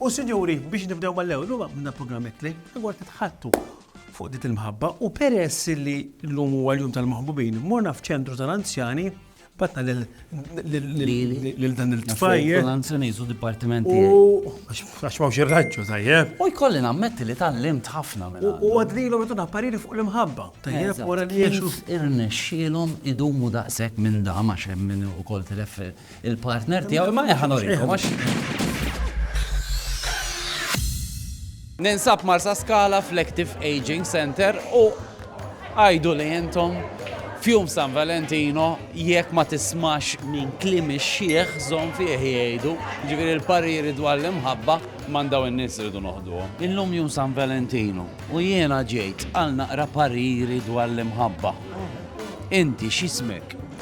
U sinjuri, biex nibdew mal-ewwel, illum għamilna programm itli rigward nitħaddtu fuq din il-mħabba u peress li llum huwa l-jum tal-maħbubin, morna f'ċentru tal-anzjani batna lil dan il-tfajjel. L-anzjani su dipartiment tiegħi. U għax ma xirraġġu tajjeb. U jkolli nammetti li tal-limt ħafna minn. U għadlilhom jtuna pariri fuq l-imħabba. Tajjeb, wara li jiexu. Irnexxielhom idumu daqshekk minn dam għax hemm min ukoll tireffer Il-partner tiegħu imma eħa norikom għax. Ninsab Marsa Skala fl-Active Aging Center u għajdu li jentom fjum San Valentino jekk ma tismax minn klim ix-xieħ zon fih jgħidu, ġifieri l-pariri dwar l-imħabba mandaw in-nies irridu noħduhom. Illum jum San Valentino u jiena ġejt għal naqra pariri dwar l-imħabba. Inti x'ismek?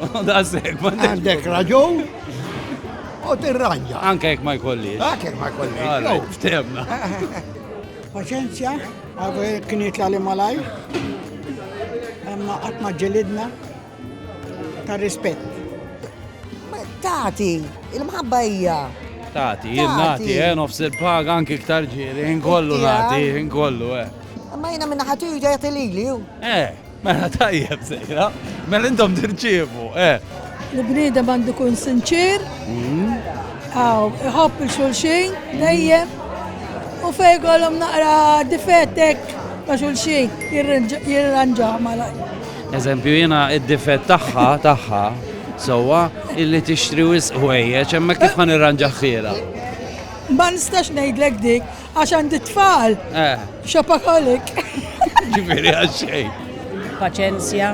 Għandek raġun u tirranja. Anke jek ma jkolli. Anke jek ma jkolli. Ftemna. Paċenzja, għadu kienet li malaj, imma għatma ġelidna ta' rispet. Tati, il-mħabba hija. Tati, jien nati, eh, nofs il-paga anki ktar ġiri, inkollu nati, inkollu, eh. Ma jina minna ħatiju ġajat il-lili, Eh. Mela tajjeb sejra, mela intom tirċievu, eh. L-bniedem għandu kun sinċir, għaw, mhm. iħobb il-xulxin, dejjem, u fej għalom naqra difettek ta' xulxin, jirranġaw mala. Eżempju, jena id-difett taħħa, taħħa, sowa, illi tixtri wisq ħwejjeġ, emma kif għan irranġaħħira. Ma nistax ngħidlek dik, Għax għandi tfal. Eh. Xapakalik. Ġifiri għaxxej. Paċenzja.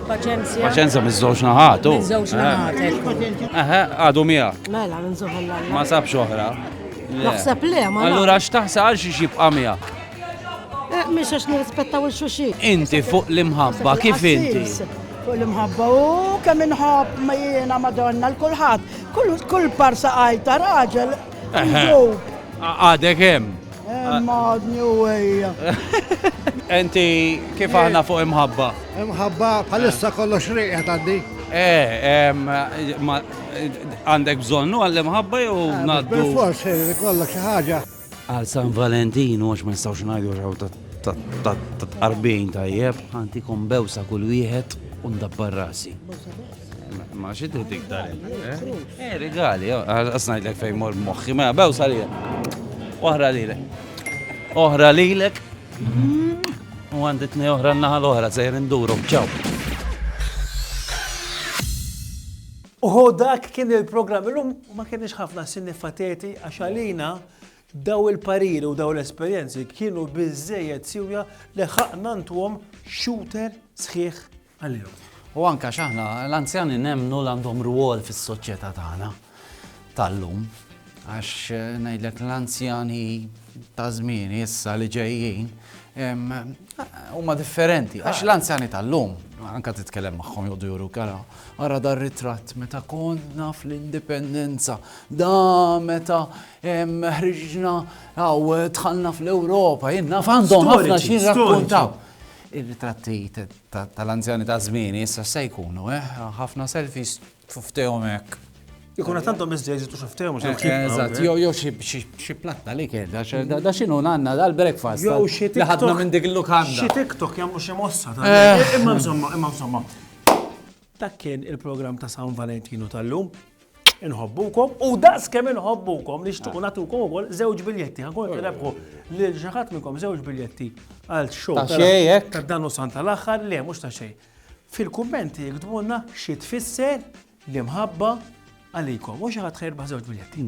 Paċenzja. Paċenzja miż-żewġ naħat. Miż-żewġ eh. naħat. Eħe, għadu mija. Mela, nżuħel Ma sabx oħra. Naħseb le, ma. Allura x'taħsa għal xi xibqa' mija. Eh, Mhix għax nirrispettaw il-xuxi. Inti fuq l-imħabba, kif inti? fuq l-imħabba u kemm inħobb ma jiena madonna l-kulħadd. Kull parsa għajta raġel Għadek hemm. Madni u għajja. Enti kif aħna fuq imħabba? Imħabba, bħalissa kollox riqja taddi. Eh, għandek bżonnu għall-imħabba jew eh, naddu. Forse, kollok xi ħaġa. Għal San Valentin, għax ma nistawx ngħidu xaw ta' tqarbin tajjeb, ħantikom bewsa kull wieħed u ndabbar rasi. Ma xi trid iktar Eh, rigali, għasnajt lek fejn mor moħħi, ma bew salija. Oħra lilek. Oħra lilek. U għanditni oħra n-naħa l-oħra, sejr induru, ċaw. Uħu dak kien il-programm, illum ma kienx ħafna sinifateti għax għalina daw il-pariri u daw l-esperienzi kienu bizzejet siwja li ħaqna ntuhom shooter sħiħ għalihom. U anke għax aħna l-anzjani nemmnu l-għandhom rwol fis-soċjetà tagħna tal-lum. Għax eh, ngħidlek l-anzjani ta' żmien issa li ġejjin huma differenti. Għax l-anzjani tal-lum, anka titkellem magħhom jgħodu juru kara, ara dar ritratt meta konna fl-indipendenza, da meta ħriġna għaw tħallna fl-Ewropa, jenna f'għandhom ħafna xi rakkuntaw. Ir-ritratti tal-anzjani ta' żmieni issa se jkunu, eh, ħafna selfies f'ftehom hekk. Ikun qed għandhom iżda jeżitu xi ftehom xi eh, eh, Eżatt, jew jew xi platta li kien, da x'inhu għandna dal-breakfast. Jew xi Li ħadna minn dik il-lukanda. Xi TikTok jagħmlu xi mossa ta' eh. imma insomma, imma insomma. Dak kien il-programm ta' San Valentinu tal-lum. Inħobbukom u daqs kemm inħobbukom nixtiequ nagħtukom ukoll żewġ biljetti. Ħankun qed irebħu lil xi ħadd minnkom żewġ biljetti għal show Ta' xejn, hekk? ta' dan u sant tal-aħħar, le mhux ta' xejn. Fil-kummenti jiktbulna xi tfisser l-imħabba għalikom u xi ħadd ħajrbaħ żewġ biljetti.